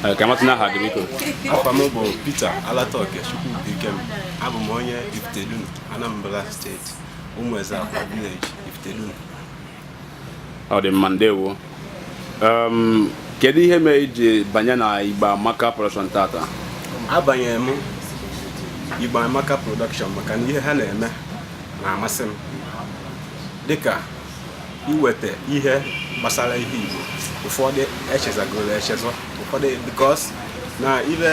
Eh, ka m matụ n'aha gị biko afa m bụ Peter Alataoke Chukwubuikem abụ m onye Ifitedunu Anambra steeti Umueze Akwa village Ifitedunu ọ dị mma ndewo um, kedu ihe mere i ji banye na Igbo Amaka production tata abanyere m Igbo Amaka production maka na ihe ha na-eme na-amasị m dịka iweta ihe gbasara ihe Igbo ụfọdụ e chezọgoro echezọ ụfọdụ because na ibe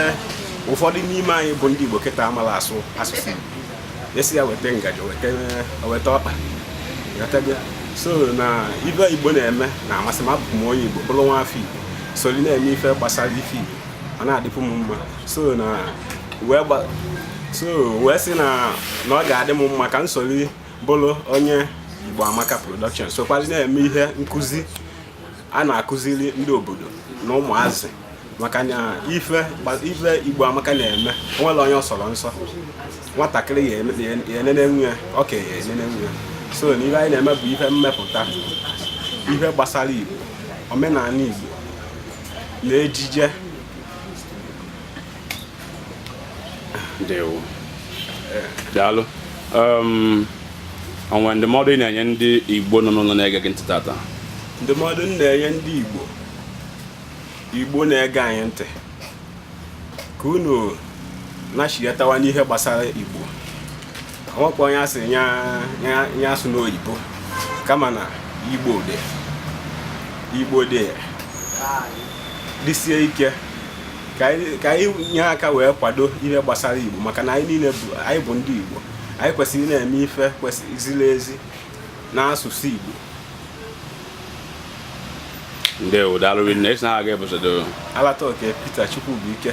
ụfọdụ n'ime anyị bụ ndị Igbo kịta amarọ asụ asụsụ Igbo a sị ya weta ngaji weta ọkpa so na ife Igbo na-eme na-amasị m abụ m onye Igbo bụrụ nwa afọ Igbo soli na-eme ife gbasara ife Igbo ọ na-adịpụ m mma so na wee so wee sị na na ọ ga-adị m mma ka m soli bụrụ onye Igbo Amaka Production sokwazị na-eme ihe nkụzi a na-akụziri ndị obodo na ụmụazị maka na ife Igbo Amaka na-eme o nwerọ onye ọ sọrọ nsọ nwatakịrị ya-enenenwu ya okenye ya-enenenwu ya so na ihe anyị na-eme bụ ihe mmepụta ihe gbasara Igbo omenala Igbo na ejije ndewo daalụ um, o nwe ndụmọdụ ị na-enye ndị igbo nọ n'ụlọ na-ege gị ntị tata ndụmọdụ m na-enye ndị igbo igbo na-ege anyị ntị ka unu nachighatawa n'ihe gbasara igbo o nwekwa onye sị onye asụna oyibo kama na igbo ndị igbo jidesie ike ka anyị nye aka wee kwado ihe gbasara igbo maka na anyị niile bụ anyị bụ ndị igbo anyị kwesịrị na-eme ife kwesịrị ziri ezi n'asụsụ igbo ndewo daalụ rinne ị sị na aha gị bụzi ọzọ Alataoke Peter Chukwubuike